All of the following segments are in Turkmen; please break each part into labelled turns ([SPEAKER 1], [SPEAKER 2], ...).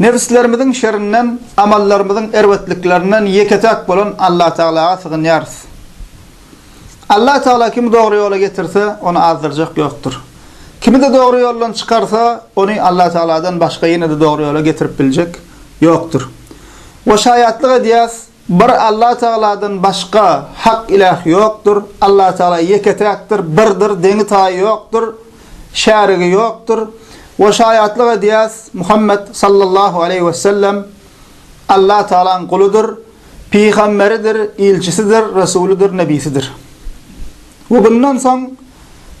[SPEAKER 1] Nebislerimiziň şerinden, amallarymyzyň erbetliklerinden ýeke-täk bolan Allatagalaga sygynýarys. Allatagala kimi dogry ýola getirse, ony azdyrjak ýokdur. Kimi-de dogry ýoldan çykarsa, ony Allatagaladan başga ýene-de dogry ýola getirip biljek ýokdur. We şaýatlyk edýäs, Bir Allah Tagaladan başga hak ilah ýokdur, Allah Tagala ýeke-täkdir, birdir, deňi-taýy ýokdur, şärigi ýokdur we şaýatlyk edýäs, Muhammet sallallahu aleýhi we sellem Allah Tagalaň guludyr, pygamberidir, ilçisidir, resulydyr, nebisidir. We bundan soň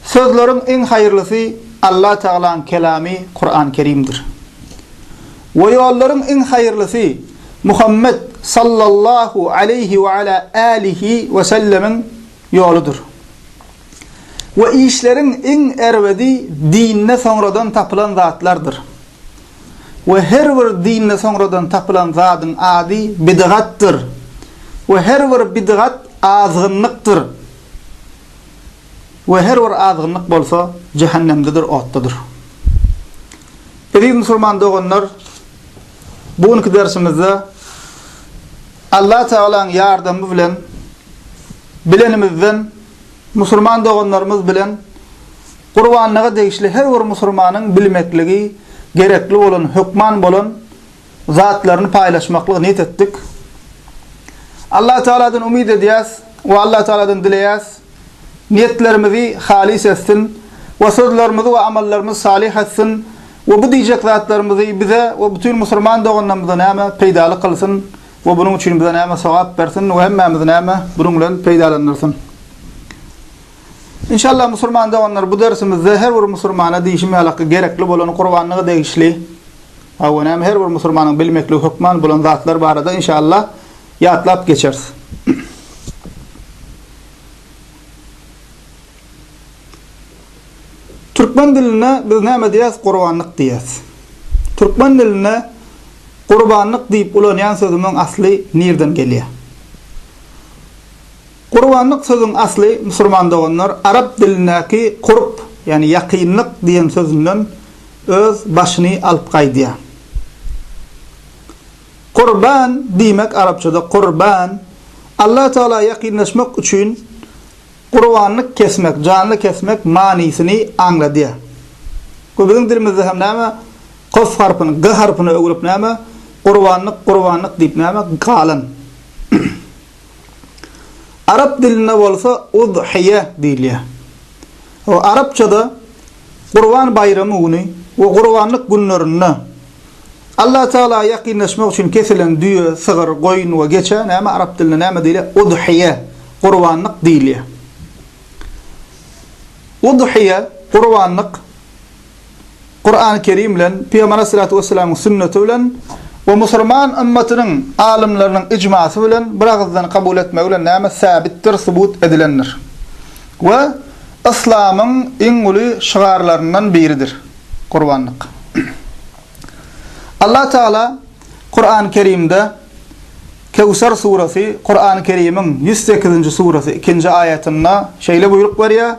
[SPEAKER 1] sözleriň iň haýyrlysy Allah Tagalaň kelamy Kuran-Kerimdir. We ýollaryň iň haýyrlysy Muhammet sallallahu aleýhi we ala älihi we sellemiň ýoludyr. We işleriň iň erbedi dinde soňradan tapylan zatlardyr. We her bir dinde soňradan tapylan zadyň ady bidgatdyr. We her bir bidgat azgynlykdyr. we her bir azgynlyk bolsa jähennemdedir otdadyr. Eziz musulman doganlar bu günki dersimizde Allah Tagalaň ýardamy bilen bilenimizden musulman doganlarymyz bilen gurbanlyga degişli her bir musulmanyň bilmekligi gerekli bolan hökman bolan zatlaryny paýlaşmaklygy niýet etdik. Allatagaladan umyt edýäs we Allatagaladan dileýäs, niýetlerimizi halys etsin we sözlerimizi we amallarymyzy salyh etsin we bu diýjek zatlarymyzy bize we bütin musulman doganlarymyza näme peýdaly kylsyn we bunuň üçin bize näme sogap bersin we hemmämizi näme bunuň bilen peýdalandyrsyn. Inşallah musulman doganlar bu dersimizde her bir musulmana diýşim ýalak gerekli bolan gurbanlyga degişli, Awenäm her bir musulmanyň bilmekligi hökman bolan zatlar barada inşallah ýatlap geçeris. Türkmen dilinde biz näme diýýäs gurbanlyk diýýäs. Türkmen dilinde gurbanlyk diýip ulanýan sözümiň asly nirden gelýär? Gurbanlyk sözüň asly, musulman doganlar, arap dilindäki kurb, ýagny ýakynlyk diýen sözünden öz başyny alyp gaýdýar. Kurban diýmek arapçada kurban, Alla Tagala ýakynlaşmak üçin gurbanlyk kesmek, janly kesmek manysyny aňladýar. Bu biziň dilimizde hem näme, kof harpyny g harpyna öwrüp näme, gurbanlyk, gurbanlyk diýip näme, galan. Arap dilinde bolsa Udhyýe diýilýär. We arapçada Gurban baýramy güni we gurbanlyk günlerinde Alla Tagala ýakynlaşmak üçin kesilen düýe, sygyr, goýun we geçä näme arap dilinde näme diýilýär? Udhyýe, gurbanlyk, diýilýär. Udhyýe, gurbanlyk. Kurany Kerim bilen, Pygamber Aleyhissalatu Vesselamyň sünneti bilen we musurman ymmatynyň alymlarynyň icmasy bilen bir agyzdan kabul etmegi bilen näme säbitdir, subut edilendir we Yslamyň iň uly şygarlaryndan biridir, gurbanlyk. Allah Tagala Kurany Kerimde Kewser suresi, Kurany Kerimiň ýüz sekizinji suresi ikinji aýatynda şeýle buýruk berýär,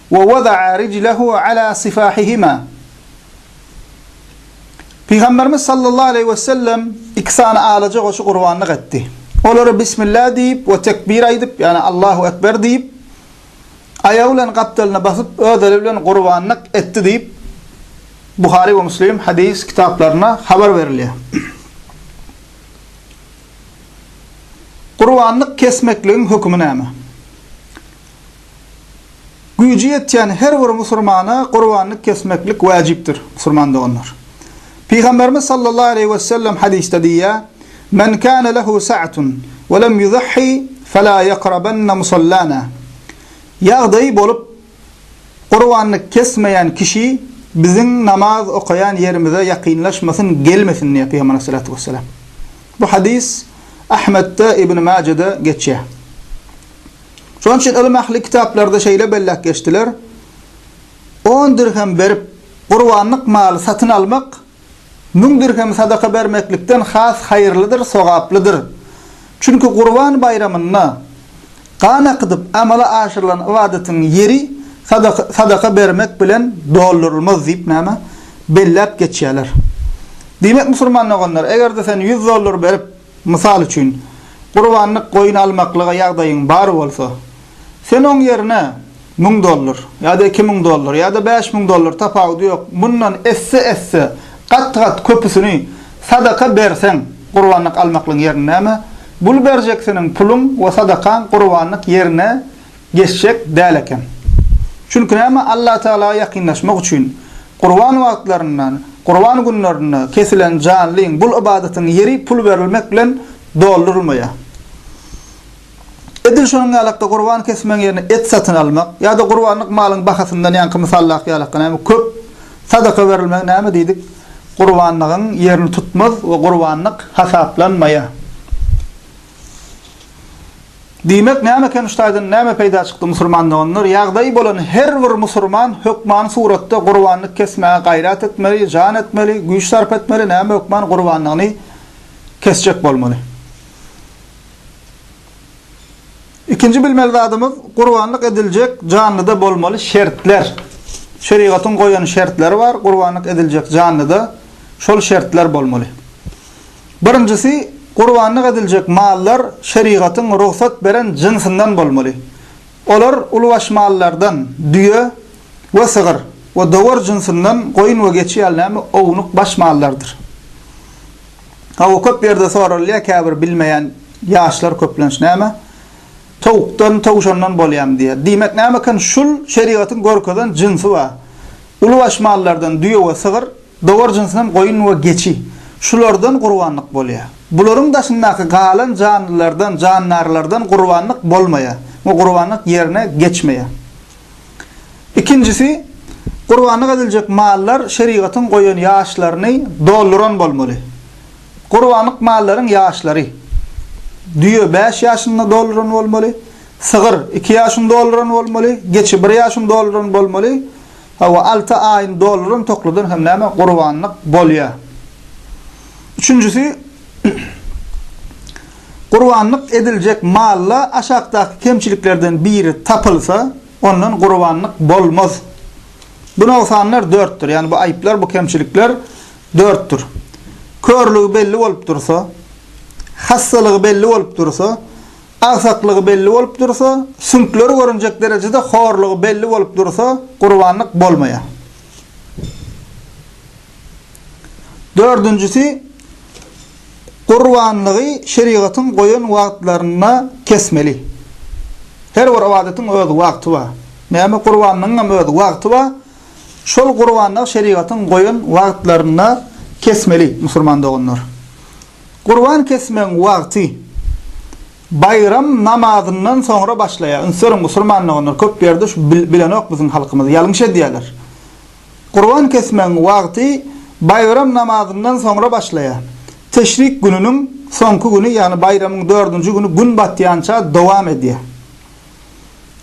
[SPEAKER 1] Wa wada'a rijlehu ala sifahihima. Pygamberimiz sallallahu aleýhi we sellem iki sany alaja goşy gurbanlyk etdi. Olary Bismillah diýip we tekbir aýdyp, ýagny Allahu ekber diýip, aýagy bilen gapdalyna basyp, öz eli bilen gurbanlyk etdi diýip, Buhary we Muslim hadys kitaplarynda habar berilýär. Gurbanlyk kesmekligiň hökümi näme? Güýji ýetýän her bir musulmana gurbanlyk kesmeklik wäjipdir, musulman doganlar. Pygamberimiz sallallahu aleýhi we sellem hadysda diýýär, Men kana lehu sa'atun we lem yuzahhi fela yakrabanna musallana. Ýagdaýy bolup, gurbanlyk kesmeýän kişi biziň namaz okaýan ýerimize ýakynlaşmasyn, gelmesin diýýär Pygamberimiz salatu wessalam. Bu hadys Ahmetde, Ibn Majede geçýär. Şonuň üçin ylym ähli kitaplarda şeýle belläp geçdiler, On dirhem berip, gurbanlyk maly satyn almak müň dirhem sadaka bermeklikden has haýyrlydyr, sogaplydyr. Çünki Gurban baýramynda gan akydyp amala aşyrylan ybadatyň ýeri sadaka bermek bilen doldurylmaz diýip, näme, belläp geçýärler. Diýmek, musulman doganlar, eger-de sen ýüz dollar berip, Mysal üçin, gurbanlyk goýun almaklyga ýagdaýyň bar bolsa, sen oň ýerine müň dollar, ýa-da iki müň dollar, ýa-da bäş müň dollar, tapawudy ýok, mundan esse-esse gat-gat köpüsini sadaka berseň, gurbanlyk almaklygyň ýerine näme, bul berjeksiniň puluň we sadakaň gurbanlyk ýerine geçjek däl eken. Çünki näme Allatagala ýakynlaşmak üçin Gurban wagtlarynda, Gurban günlerinde kesilen janlyň, bul ybadatyň ýeri pul berilmek bilen doldurylmaýar. Edil şonuň ýalakda gurban kesmegiň ýerine et satyn almak ýa-da gurbanlyk malyň bahasyndan ýaňky mysaldaky ýalakda näme köp sadaka berilmegi näme diýdik gurbanlygyň ýerini tutmaz we gurbanlyk hasaplanmaýar. Diýmek, näme eken şu taýdan näme peýda çykdy musurman doganlar, ýagdaýy bolan her bir musurman hökmany suratda gurbanlyk kesmäge gaýrat etmeli, jan etmeli, güýç sarp etmeli, näme hökman gurbanlygyny kesjek bolmaly. Ikinji bilmeli zadymyz gurbanlyk ediljek janlyda bolmaly şertler. Şerigatyň goýan şertleri bar, gurbanlyk ediljek janlyda şol şertler bolmaly. Birinjisi, gurbanlyk ediljek mallar şerigatyň rugsat beren jynsyndan bolmaly. Olar ulubaş mallardan, düýe we sygyr, we dowar jynsyndan goýun we geçi ýaly näme ownuk baş mallardyr. Hawa, köp ýerde soralýar, käbir bilmeýän ýaşlar köplenç, näme, towukdan, towşandan bolýamy diýýär. Diýmek, näme eken, şul şerigatyň görkezen jynsy bar. Ulubaş mallardan düýe we sygyr, Dowar jynsyndan goýun we geçi. Şulardan gurbanlyk bolýar. Bularyň daşyndaky galan janlylardan, jandarlardan gurbanlyk bolmaýar we gurbanlyk ýerine geçmeýär. Ikinjisi, gurbanlyk ediljek mallar şerigatyň goýan ýaşlaryny dolduran bolmaly. Gurbanlyk mallaryň ýaşlary, düýe bäş ýaşyny dolduran bolmaly, sygyr iki ýaşyny dolduran bolmaly, geçi bir ýaşyny dolduran bolmaly, Hawa, alty aýyň dollaryn tokladan hem näme gurbanlyk bolýa. Üçünjisi, gurbanlyk ediljek malda aşakdaky kemçiliklerden biri tapylsa, ondan gurbanlyk bolmaz. Bu nogsanlar dörtdir, ýagny bu aýyplar, bu kemçilikler dörtdir. Körlügi belli bolup dursa, hassalygy belli bolup dursa, Agsaklygy belli bolup dursa, süňkleri görünjek derejede horlugy belli bolup dursa, gurbanlyk bolmaýar. Dördünjisi, gurbanlygy şerigatyň goýan wagtlarynda kesmeli. Her bir ybadatyň öz wagty bar. Näme gurbanlygyň hem öz wagty bar. Şol gurbanlygy şerigatyň goýan wagtlarynda kesmeli, musulman doganlar. Gurban kesmegiň wagty baýram namazyndan soňra başlaýar. Ünsberiň musulman doganlar köp ýerde şu bilenok biziň halkymyz ýalňyş edýärler. Gurban kesmegiň wagty baýram namazyndan soňra başlaýar. Teşrik gününiň soňky güni ýagny baýramyň dördünji güni gün batýança dowam edýär.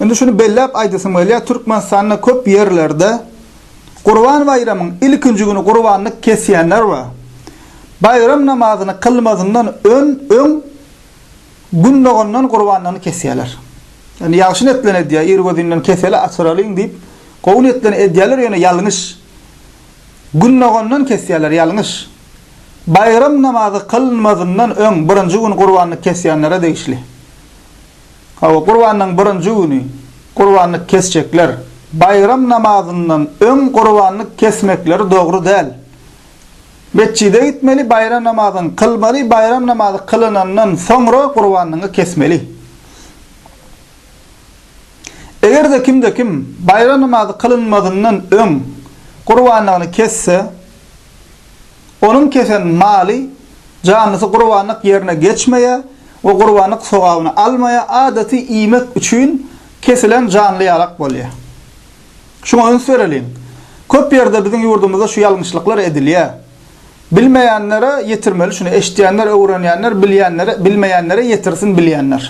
[SPEAKER 1] Indi şuny belläp aýdasym gelýär Türkmenistanda köp ýerlerde Gurban baýramyň ilkinji güni gurbanlyk kesýänler we baýram namazyny kylmazyndan öň öň Gün dogandan gurbanlygyny kesýärler. Ýagny ýagşy netlen edýär, irgözinden keseli açyralyň diýip, gowy netlen edýärler, ýöne ýalňyş. Gün dogandan kesýärler, ýalňyş. Baýram namazy kylynmazyndan öň birinji gün gurbanlyk kesýänlere degişli. Hawa, Gurbanyň birinji güni gurbanlyk kesjekler. Baýram namazyndan öň gurbanlyk kesmekleri dogry däl. Metjide gitmeli, baýram namazyny kylmaly, baýram namazy kylynandan soňra gurbanyňy kesmeli. Eger-de kimde kim baýram namazy kylynmazyndan öň gurbanlygyny kesse, Onuň kesen maly, jandysy gurbanlyk ýerine geçmeýär we gurbanlyk sogabyny almaýar, adaty iýmek üçin kesilen janly ýalak bolýar. Şuňa üns bereliň. Köp ýerde biziň ýurdumyzda şu ýalňyşlyklar edilýär. Bilmeýänlere ýetirmeli şuny, eşitýänler öwrenýänler, bilýänlere, bilmeýänlere ýetirsin bilýänler.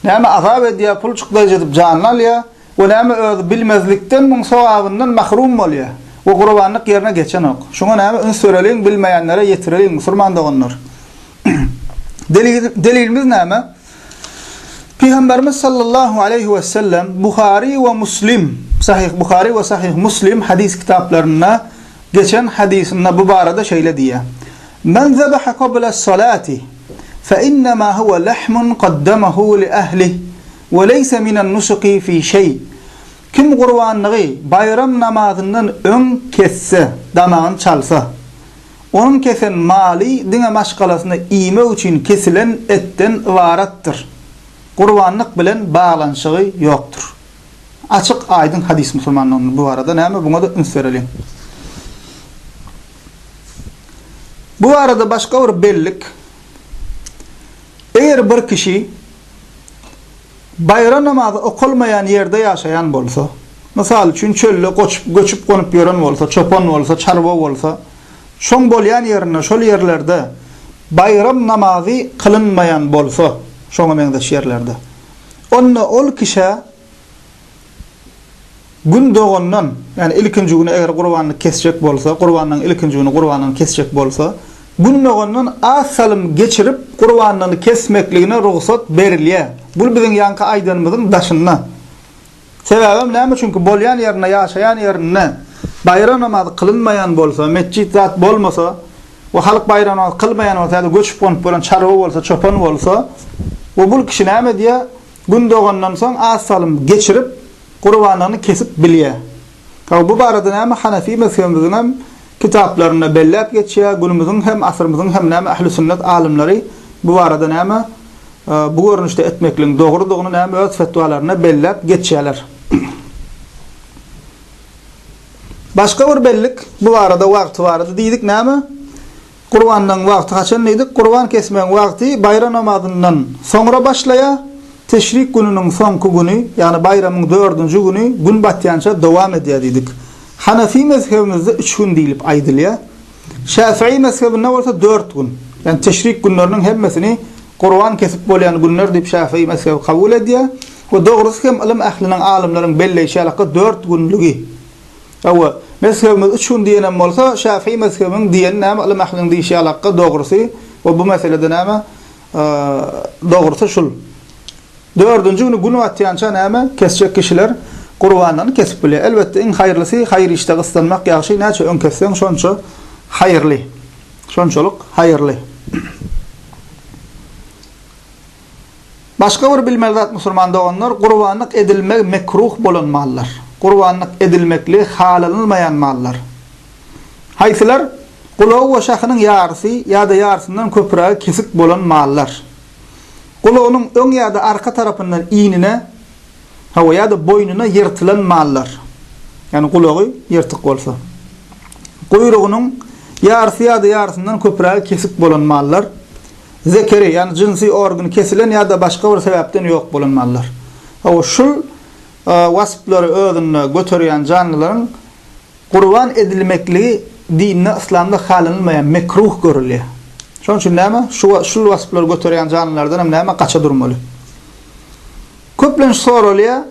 [SPEAKER 1] Näme azap edýär, pul çykdaýjy edip janyny alýar. we näme özi bilmezlikden muň sogabyndan mahrum bolýa we gurbanlyk ýerine geçenok. Şuňa näme üns bereliň, bilmeýänlere ýetireliň, musurman doganlar. Delilimiz näme? Pygamberimiz sallallahu aleýhi we sellem Buhary we Muslim, Sahyh Buhary we Sahyh Muslim hadys kitaplarynda geçen hadysynda bu barada şeýle diýýär, Men zebaha qabla salati, fe innema huwa lahmun qaddamahu li ahli, we leýse minan nusuki fi şeý, Kim gurbanlygy baýram namazyndan öň kesse, damagyny çalsa, onuň kesen maly diňe maşgalasyna iýmek üçin kesilen etden ybaratdyr. Gurbanlyk bilen baglanyşygy ýokdur. Açyk, aýdyň hadys musulmanlaryň bu barada näme buňa-da üns bereliň. Bu barada başga bir bellik, Eger bir kişi, baýram namazy okalmaýan ýerde ýaşaýan bolsa, mysal üçin, çölde göçüp-gonup ýören bolsa, çopan bolsa, çarwa bolsa, şoň bolýan ýerinde, şol ýerlerde baýram namazy kylynmaýan bolsa, şoňa meňzeş ýerlerde, onda ol kişä Gün dogandan, ýagny ilkinji güni eger gurbanlyk kesjek bolsa, gurbanlygyň ilkinji güni gurbanlygyny kesjek bolsa, Gün dogandan az salym geçirip gurbanlygyny kesmekligine rugsat berilýär. Bul biziň ýaňky aýdanymyzyň daşynda. Sebäbem näme? Çünki bolýan ýerinde, ýaşaýan ýerinde baýram namazy kylynmaýan bolsa, metjit zat bolmasa we halk baýram namazy kylmaýan bolsa ýa-da göçüp-gonup bolan çarwa bolsa, çopan bolsa we bul kişi näme edýär? Gün dogandan soň az salym geçirip, gurbanlygyny kesip bilýär. Hawa, bu barada näme hanefi mezhebimiziň hem kitaplarynda belläp geçýär, günümiziň hem, asyrymyzyň hem näme ähli sünnet alymlary bu barada näme bu görnüşde etmekligiň dogrudygyny näme öz fetwalarynda belläp geçýärler. Başga bir bellik, bu barada wagty barada diýdik näme? Gurbanlygyň wagty haçan diýdik? Gurban kesmegiň wagty baýram namazyndan soňra başlaýar, teşrik gününiň soňky güni, ýagny baýramyň dördünji güni gün batýança dowam edýär diýdik. Hanefi mezhebimizde üç gün diýlip aýdylýar. Şäfiý mezhebinde bolsa dört gün. Ýagny teşrik günleriniň hemmesini gurban kesip bolýan günler diýip şäfiý mezhebi kabul edýär we dogrusy hem ylym ähliniň, alymlaryň belleýşi ýalaka dört günlügi. Hawa, mezhebimiz üç gün diýenem bolsa, şäfii mezhebiniň diýeni näme, ylym ähliniň diýşi ýalakka, dogrusy we bu meselede näme, dogrusy şul. Dördünji güni gün batýança näme, kesjek kişiler gurbanlygyny kesip bilýär. Elbetde, iň haýyrlysy haýyr işde gyssanmak ýagşy, näçe öň kesseň, şonça haýyrly. Şonçalyk haýyrly. Başga bir bilmeli zat musulman doganlar, gurbanlyk edilmegi mekruh bolan mallar, gurbanlyk edilmekligi halanylmaýan mallar. Haýsylar? Gulagy we şahynyň ýarysy ýa-da ýarysyndan köprägi kesik bolan mallar. Gulagynyň öň ýa-da arka tarapyndan iýnine, hawa, ýa-da boýnuna ýyrtylan mallar, ýagny gulagy ýyrtyk bolsa. Guýrugynyň ýarysy ýa-da ýarysyndan köprägi kesik bolan mallar. zekeri, ýagny jynsy organy kesilen ýa-da başga bir sebäpden ýok bolan mallar. Hawa, şul wasplary özünde göterýän janlylaryň gurban edilmekligi dinde, yslamda halanylmaýan, mekruh görülýär. Şonuň üçin näme? Şu, şul wasplary göterýän janlylardan hem näme? Gaça durmaly. Köplenç soralýar,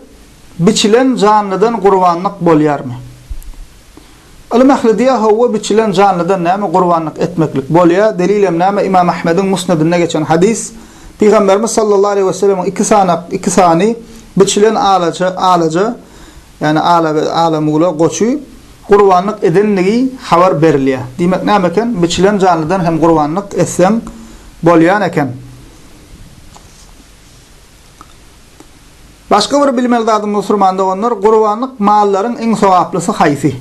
[SPEAKER 1] biçilen janlydan gurbanlyk bolýarmy? Ylym ähli diýýär howwa biçilen janlydan näme gurbanlyk etmeklik bolýar delilem näme Ymam Ahmediň Musnedinde geçen hadys Pygamberimiz sallallahu aleýhi weselemiň iki sany iki sany biçilen alaja alaja ýagny ala ala mula goçy gurbanlyk edendigi habar berilýär diýmek näme eken biçilen janlydan hem gurbanlyk etseň bolýan eken. Başga bir bilmeli zadym musurman doganlar gurbanlyk mallaryň iň sogaplysy haýsy?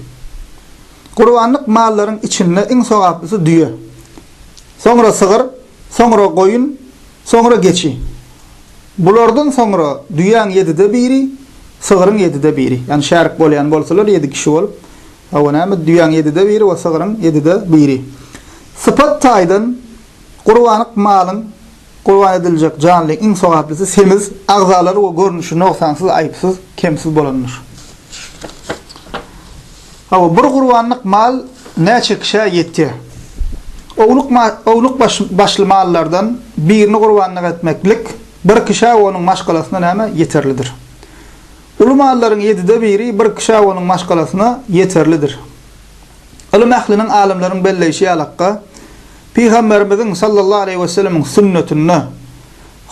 [SPEAKER 1] Gurbanlyk mallaryň içinde iň sogaplysy düýe. Soňra sygyr, soňra goýun, soňra geçi. Bulardan soňra düýäň ýedide biri, sygryň ýedide biri. Ýani şärik bolýan bolsalar ýedi kişi bolup, hawa näme düýäň ýedide biri we sygryň ýedide biri. Sypat taýdan gurbanlyk malyň Gurban ediljek janlyň iň sogaplysy semiz, agzalary we görnüşi nogsansyz, aýypsyz, kemsiz bolandyr. Hawa, bir gurbanlyk mal näçe kişä ýetýär? Ownuk ownuk başly mallardan birini gurbanlyk etmeklik bir kişä we onuň maşgalasyna näme? Ýeterlidir. Uly mallaryň ýedide biri bir kişä we onuň maşgalasyna ýeterlidir. Ylym ähliniň, alymlaryň belleýşi ýalakka, Pygamberimiziň sallallahu aleýhi we sellemiň sünnetinde,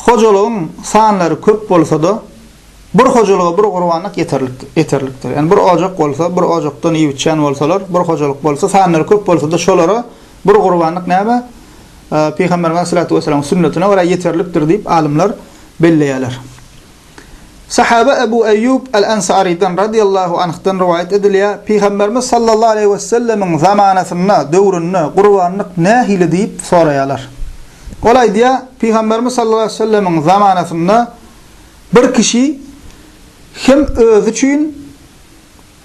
[SPEAKER 1] Hojalygyň sanlary köp bolsa-da, bir hojalyga bir gurbanlyk ýeterlik, ýeterlikdir. Ýagny bir ojak bolsa, bir ojakdan iýip-içýän bolsalar, bir hojalyk bolsa, sanlary köp bolsa-da, şolara bir gurbanlyk näme? Pygamberimiz aleýhissalatu wessalamyň sünnetine görä ýeterlikdir diýip, alymlar belleýärler. Sahaba Ebu Eýýub al-Ensarydan, radyýallahu anhdan, rowaýat edilýär, Pygamberimiz sallallahu aleýhi wesellemiň zamanasynda, döwründe, gurbanlyk nähili diýip soraýarlar. Ol aýdýar, Pygamberimiz sallallahu aleýhi wesellemiň zamanasynda bir kişi hem özi üçin,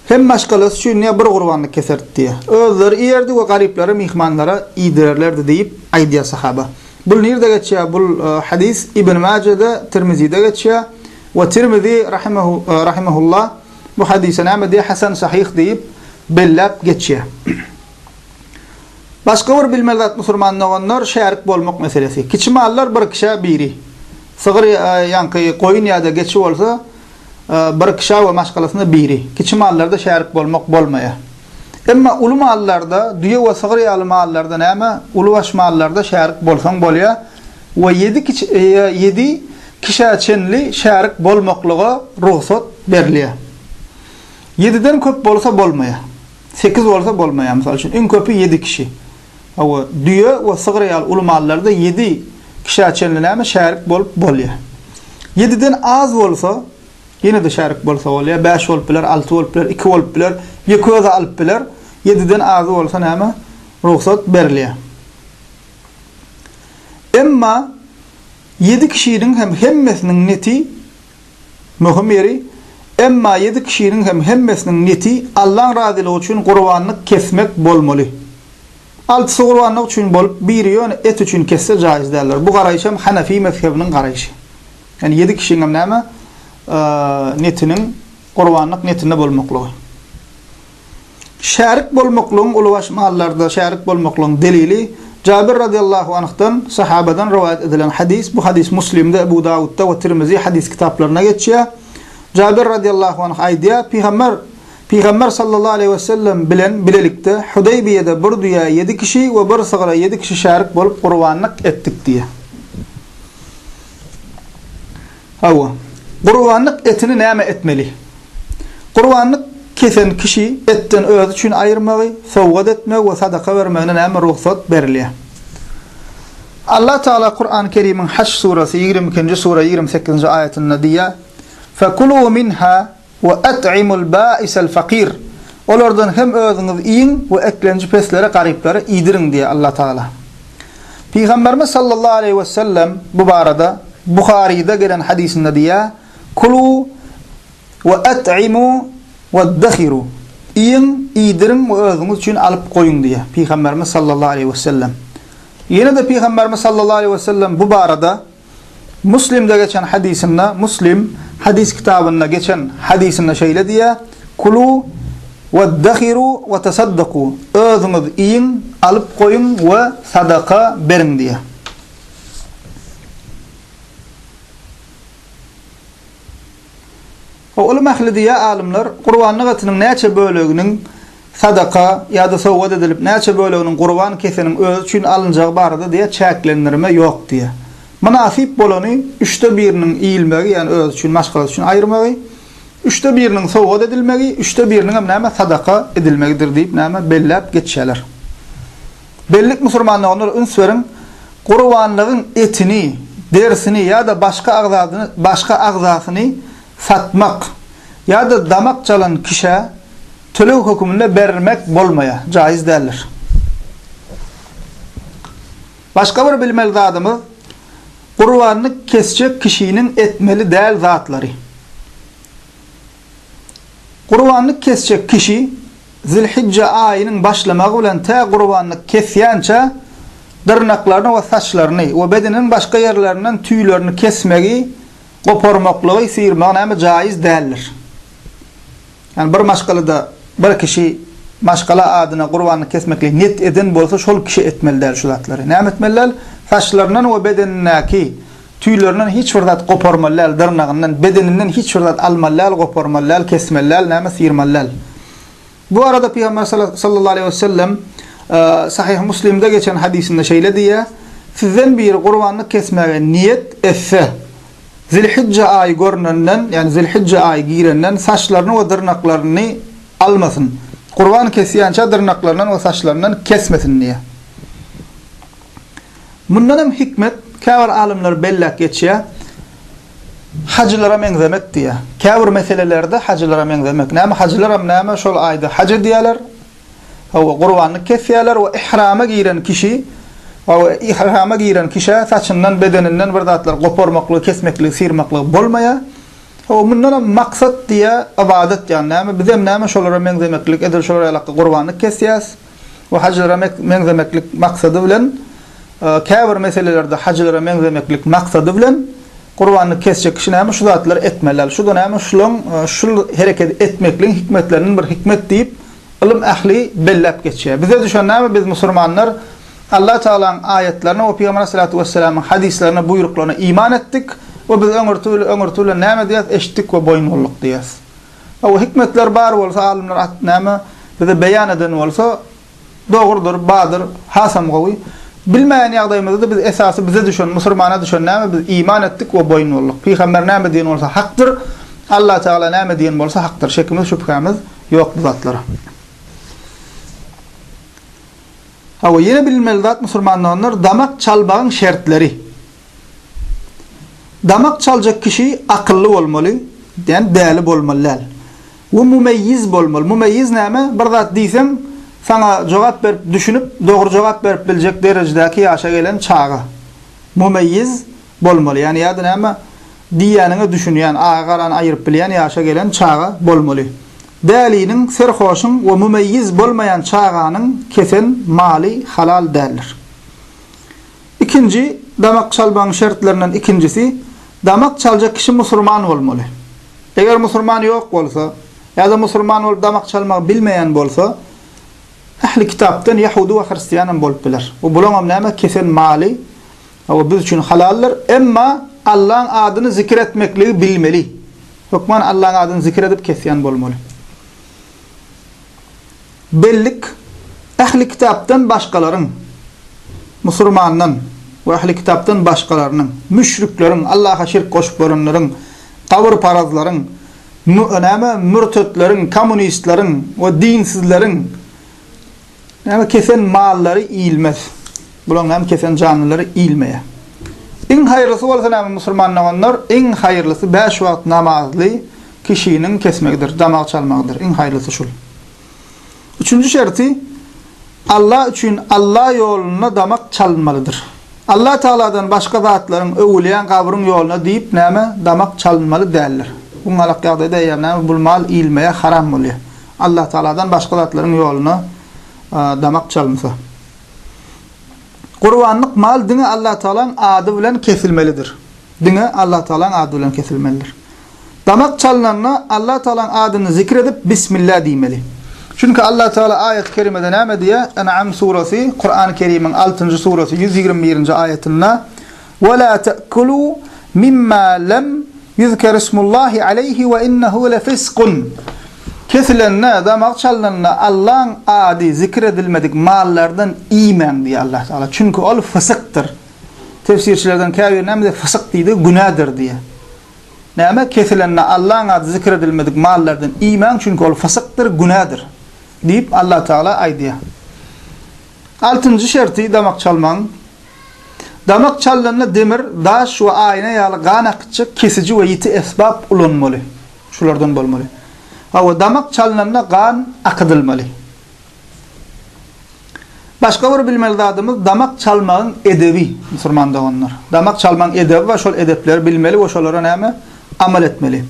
[SPEAKER 1] Hem maşgalasy üçin ne bir gurbanlyk keserdi diýýär. Özleri iýerdi we garyplara, myhmanlara iýdirerlerdi diýip aýdýar sahaba. Bul nirde geçýär? Bul hadys Ibn Majede, Tirmizide geçýär. We Tirmizi rahimehu rahimehullah bu hadysa näme diýýär? Hasan sahyh diýip belläp geçýär. Başga bir bilmeli zat musurman doganlar şärik bolmak meselesi. Kiçi mallar bir kişä biri. Sygyr ýa ýaňky goýun ýa-da geçi bolsa bir kişä we maşgalasynda biri. Kiçi mallarda şärik bolmak bolmaýar. Emma uly mallarda, düýe we sygyr ýaly mallarda näme, ulybaş mallarda şärik bolsaň bolýar we ýedi ýedi kişä çenli şärik bolmaklyga rugsat berilýär. Ýediden köp bolsa bolmaýar. Sekiz bolsa bolmaýar, mysal üçin, iň köpi ýedi kişi. Hawa, düýe we sygyr ýaly uly mallarda ýedi kişä çenli näme şärik bolup bolýar. Ýediden az bolsa, ýene-de şärik bolsa bolýar, bäş bolup biler, alty bolup biler, iki bolup biler, ýeke özi alyp biler, ýediden azy bolsa näme, rugsat berilýär. Emma ýedi kişiniň hem hemmesiniň neti Möhüm ýeri, emma ýedi kişiniň hem hemmesiniň neti Allaň razylygy üçin gurbanlyk kesmek bolmaly. Altysy gurbanlyk üçin bolup, biri ýöne et üçin kesse jaýyz däldir. Bu garaýyşam Hanefi mezhebiniň garaýyşy. Ýani ýedi kişiňem näme, netiniň gurbanlyk netinde bolmaklygy. Şärik bolmaklygyň uly baş mallarda şärik bolmaklygyň delili Jabir radiyallahu anhdan, sahabadan, rowaýat edilen hadys, bu hadys Muslimde, Ebu Dawudda we Tirmizi hadys kitaplarynda geçýär. Jabir radiyallahu anh aýdýar, Pygamber, Pygamber sallallahu aleýhi we sellem bilen bilelikde Hudaýbiýede bir düýä ýedi kişi we bir sygra ýedi kişi şärik bolup gurbanlyk etdik diýýär. Hawa. Gurbanlyk etini näme etmeli? Gurbanlyk kesen kişi etden özi üçin aýyrmagy, sowgat etmegi we sadaka bermegine näme rugsat berilýär? Allah Tagala Kurany Kerimiň Haş surasy ýigrimi ikinji sura ýigrimi sekizinji aýatynda diýýär, Fekulû minhâ, We at'imul bâisel fakîr. Olardan hem özüňiz iýiň we eklenji peslere, garyplara iýdiriň diýýär Allah Tagala. Pygamberimiz sallallahu aleýhi wesellem bu barada Buharyda gelen hadysynda diýýär, Kulû we at'imû weddehirû. Iýiň, iýdiriň we özüňiz üçin alyp goýuň diýýär Pygamberimiz sallallahu aleýhi wesellem. Ýene-de Pygamberimiz sallallahu aleýhi wesellem bu barada. Muslimde geçen hadysynda, Muslim, Hadys kitabynda geçen hadysynda şeýle diýýär, Kulu weddahiru we tasaddaku, özüňiz iýiň, alyp goýuň we sadaka beriň diýýär. O ylym ählidi ýa alymlar gurbanlyk etiniň näçe böleginiň sadaka ýa-da sowgat edilip, näçe böleginiň gurban keseniň özi üçin alynjagy barada diýýär, çäklendirme ýok diýýär. Mynasyp bolany üçde biriniň iýilmegi, ýagny özi üçin, maşgalasy üçin aýyrmagy, üçde biriniň sowgat edilmegi, üçde biriniňem näme, sadaka edilmegidir diýip näme, belläp geçýärler. Bellik musurmanlygynda üns beriň, gurbanlygyň etini, derisini ýa-da başga agzadyny, başga agzasyny, satmak ýa-da damak jalan kişä töleg höküminde bermek bolmaýar, jaýyz däldir. Başga bir bilmeli zadymyz, gurbanlyk kesjek kişiniň etmeli däl zatlary. Gurbanlyk kesjek kişi Zilhijje aýynyň başlamagy bilen tä gurbanlyk kesýänçä dyrnaklaryny we saçlaryny we bedeniniň başga ýerlerinden tüýlerini kesmegi, goparmaklygy, syýrmagy näme jaýyz däldir. Ýagny bir maşgalada bir kişi maşgala adyna gurbanlyk kesmeklige niýet eden bolsa şol kişi etmeli däl şu zatlary. Näme etmeli däl? Saçlaryndan we bedenindäki Tüýlerinden hiç bir zat goparmaly däl, dyrnagyndan, bedeninden hiç bir zat almaly däl, goparmaly däl, kesmeli däl, näme syrmaly däl. Bu barada Pygamber sallallahu aleýhi we sellem Sahyh Muslimde geçen hadysynda şeýle diýýär, Sizden biri gurbanlyk kesmäge niýet etse, Zilhijje aýy görnenden, ýagny Zilhijje aýy girenden saçlaryny we dyrnaklaryny almasyn. Gurban kesýänçä dyrnaklaryndan we saçlaryndan kesmesin diýýär. Mundan hem hikmet, käbir alymlar belläp geçýär, hajylara meňzemek diýýär. Käbir meselelerde hajylara meňzemek. Näme, hajylaram näme, şol aýda haj edýärler, hawa, gurbanlyk kesýärler we ihrama giren kişi, hawa, ihrama giren kişä saçyndan, bedeninden bir zatlar goparmaklygy, kesmekligy, syrmaklygy bolmaýar. Hawa, mundan hem maksat diýýär, ybadat ýagny näme, bizem näme, şolara meňzemeklik, edil şolar ýalakda gurbanlyk kesýäris. we hajylara meňzemeklik maksady bilen, käbir meselelerde hajylara meňzemeklik maksady bilen gurbanlyk kesjek kişi näme şu zatlary etmeli däl? Şu-da näme şulaň şul hereketi etmekligiň hikmetlerinden bir hikmet diýip, ylym ähli belläp geçýär. Bize düşen näme biz musurmanlar Allah Tagalaň aýatlaryna we Pygamber Aleyhissalatu wesselamyň hadyslaryna, buýruklaryna iman etdik we biz öňürti bilen öňürti bilen näme diýýäs eşitdik we boýun boldyk diýýäs. Hawa, hikmetler bar bolsa, alymlar at näme bize beýan eden bolsa, dogrudyr, bardyr, hasam gowy. Bilmeýän ýagdaýymyzda-da biz esasy bize düşen, musurmana düşen näme, biz iman etdik we boýun bolduk. Pygamber näme diýen bolsa hakdyr, Allah Tagala näme diýen bolsa hakdyr. Şekimiz, şübhämiz ýok bu zatlara. Hawa, ýene bilinmeli zat musurmandoganlar, damak çalbagyň şertleri. Damak çaljak kişi akylly bolmaly, ýani däli bolmaly däl. We mumeýýiz bolmaly. Mumeýýiz näme? Bir zat diýseň, saňa jogap berip, düşünip, dogry jogap berip biljek derejedäki ýaşa gelen çaga. Mumeýýiz bolmaly. Ýani ýa-da näme? Diýýäniňe düşünýän, agy-garany aýyryp bilýän ýaşa gelen çaga bolmaly. Däliniň, serhoşyň we mumeýýiz bolmaýan çaganyň kesen maly halal däldir. Ikinji, damak çalmagyň şertlerinden ikinjisi, damak çaljak kişi musurman bolmaly. Eger musurman ýok bolsa, ýa-da musurman bolup damak çalmagy bilmeýän bolsa, ähli kitapdan ýahudy we hristian hem bolup biler. Bu bulaňam näme, kesen maly, hawa, biz üçin halaldyr, emma Allaň adyny zikir etmekligi bilmeli. Hökman Allaň adyny zikir edip kesýän bolmaly. bellik Ähli kitapdan başgalaryň, musurmandan, we ähli kitapdan başgalarynyň, müşrikleriň, Allaha şirk goşup görenleriň, gabyrparazlaryň, mü, näme, mürtetleriň, kommunistleriň we dinsizleriň, näme, kesen mallary iýilmez. Bularyň, näme, kesen janlylary iýilmeýär. Iň haýyrlysy bolsa näme, musurman doganlar, iň haýyrlysy bäş wagt namazly, Kişiniň kesmegidir, damak çalmagydyr, iň haýrlysy şul. Üçünji şerti, Alla üçin Alla ýolunda damak çalynmalydyr. Alla Tagaladan başga zatlaryň, öwülýän gabryň ýoluna diýip näme damak çalynmaly däldir. Bu galak ýagdaýda eýýäm näme bul mal iýilmeýär, haram bolýar. Alla Tagaladan başga zatlaryň ýoluna damak çalynsa. Gurbanlyk mal diňe Alla Tagalaň ady bilen kesilmelidir. Diňe Alla Tagalaň ady bilen kesilmelidir. Damak çalnanda Allatagalaň adyny zikr edip, Bismillah diýmeli. Çünki Allatagala aýaty kerimede näme diýýär? En'am surasy, Kurany Kerimiň altynjy surasy ýüz ýigrimi birinji aýatynda, We la ta'kulû mimma lem ýuzkerismullahi aleýhi we innehu lefisqun, Kesilende, damak çalnanda Allaň ady zikr edilmedik mallardan iýmäň diýýär Allatagala. Çünki ol fysykdyr. Tefsirçilerden käbiri näme diýýär? Fysyk diýdi, günädir diýýär. Näme, kesilende Allahyň ady zikr edilmedik mallardan iýmäň, çünki ol fysykdyr, günädir diýip, Allah Tagala aýdýar. Altynjy şerti damak çalmagyň. Damak çalnanda demir, daş we aýna ýaly gan akytjak kesiji we ýiti esbap ulanmaly. Şulardan bolmaly. Hawa, damak çalnanda gan akydylmaly. Başga bir bilmeli zadymyz damak çalmagyň edebi musurman doganlar. Damak çalmagyň edebi bar şol edepleri bilmeli we şolara näme amal etmeli.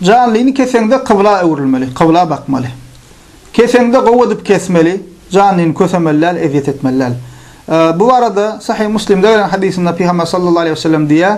[SPEAKER 1] Janlyny keseňde kybla öwrülmeli, kybla bakmaly. Keseňde gowy edip kesmeli, janlyny kösemeli däl, ezýet etmeli däl. Bu barada Sahyh Muslimde gelen hadysynda Pygamber sallallahu aleýhi we sellem diýýär,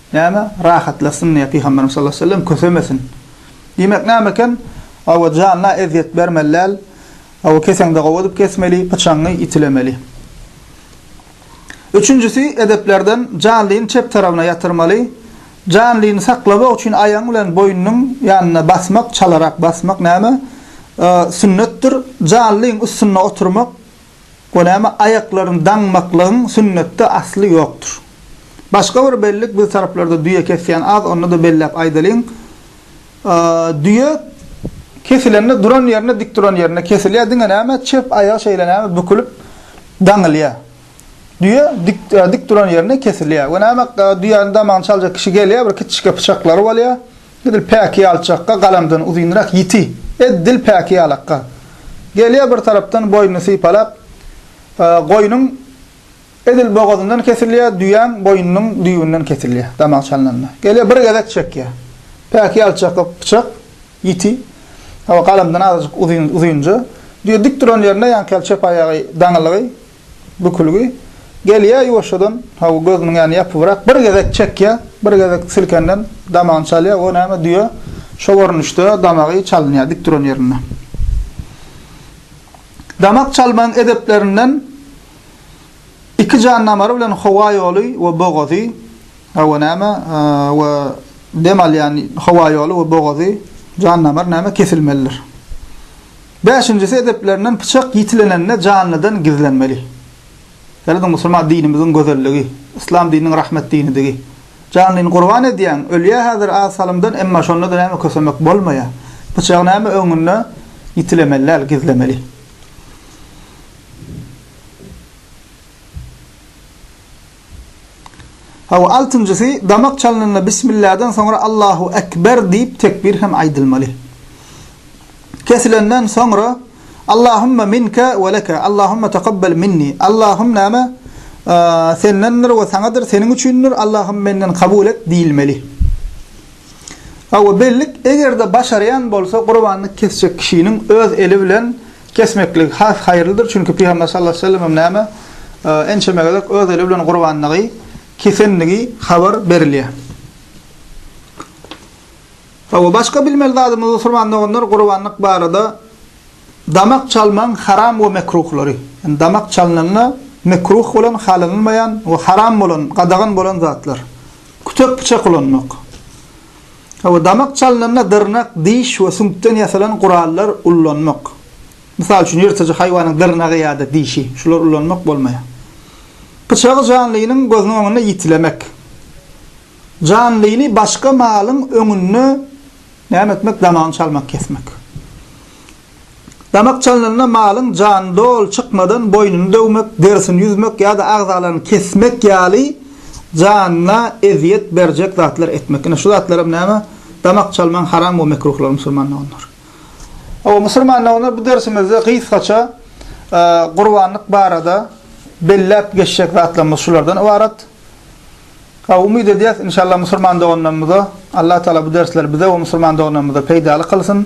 [SPEAKER 1] Näme, rahatlasyn diýýä Pygamberimiz sallallahu aleýhi we sellem, kösemesin. Diýmek näme eken, hawa, janyna ezýet bermeli däl, hawa, keseňde gowy edip kesmeli, pyçaňy itilemeli. Üçünjisi, edeplerden, janlyny çep tarabyna ýatyrmaly, janlyny saklamak üçin aýagyň bilen boýnunyň ýanyna basmak, çalarak basmak näme, sünnetdir, janlyň üstünde oturmak, O näme aýaklaryny daňmaklygyň sünnetde asly ýokdur. Başga bir bellik biz taraplarda düýe kesýän az onda-da belläp aýdalyň. Düýe kesilende duran ýerinde dik duran ýerinde kesilýär diňe näme çep aýagy şeýle näme bükülip daňylýar. Düýe dik dik duran ýerinde kesilýär. We näme düýäni damagyny çaljak kişi gelýär bir kiçijik pyçaklary bolýar. Dil päki ýalçakga, galamdan uzynrak ýiti. Ed dil päki ýalakga. Gelýär bir tarapdan boýnuny sypalap, Goýnuň edil bogazyndan kesilýär, düýäň boýnunyň düýbünden kesilýär, damak çalnanda. Gelýär bir gezek çekýär. Päki ýalçakga pyçak, ýiti. Hawa, galamdan azajyk uzynja. Düýe dik duran ýerinde ýaňky ýaly çep aýagy daňylygy. Bükülgi. Gelýär ýuwaşjadan, hawa, gözüniň ýany ýapybrak, bir gezek çekýär, bir gezek silkenden damagyny çalýar, o näme, düýe, şo görnüşde damagy çalynýar dik duran ýerinde. Damak çalmagyň edeplerinden iki jan damary bilen howa ýoly we bogazy, hawa, näme, we dem alýan howa ýoly we bogazy, jan damar, näme, kesilmelidir. Bäşinjisi edeplerinden pyçak ýitilenende janlydan gizlenmeli. Ýalyda musulman dinimiziň gözelligi, yslam dininiň rahmet dinidigi. Janlyny gurban edýäň, ölýä häzir az salymdan emma şonda-da näme kösemek bolmaýa. Pyçagy näme öňünde ýitilemeli däl, gizlemeli. Hawa, altynjysy, damak çalnanda Bismilladan soňra Allahu ekber diýip tekbir hem aýdylmaly. Kesilenden soňra Allahumma minke we leke, Allahumma takabbel minni, Allahum näme, Sendendir we Saňadyr, Seniň üçindir, Allahum menden kabul et diýilmeli. Hawa, bellik, eger-de başarýan bolsa, gurbanlyk kesjek kişiniň öz eli bilen Kesmeklik has haýyrlydyr, çünki Pygamber sallallahu aleýhi we sellem hem näme, ençeme gezek öz eli bilen gurbanlygy kesendigi habar berilýär. Hawa, başga bilmeli zadymyz, musulman doganlar, gurbanlyk barada damak çalmagyň haram we mekruhlary. Ýani damak çalnanda mekruh bolan, halanylmaýan we haram bolan, gadagan bolan zatlar. Kütek-pyçak ulanmak. Hawa, damak çalnanda dyrnak, diş we süňkden ýasalan gurallar ullanmak. Mysal üçin, ýyrtyjy haýwanyň dyrnagy ýa-da dişi. Şulary ullanmak bolmaýar. Pyçagy janlynyň gözüniň öňünde ýitilemek. Janlyny başga malyň öňünde näme etmek, damagyny çalmak, kesmek. Damak çalnanda malyň jany doly çykmadan boýnuny döwmek, derisini ýüzmek ýa-da agzalaryny kesmek ýaly janyna ezýet berjek zatlar etmek. Ine, şu zatlaram näme? Damak çalmagyň haram we mekruhlary musulman doganlar. Hawa, musulman doganlar, bu dersimizde gysgaça gurbanlyk barada belläp geçjek zatlarymyz şulardan ybarat. Hawa, umyt edýäs, inşallah, musulman doganlarymyza Allatagala bu dersleri bize we musulman doganlarymyza peýdaly kylsyn.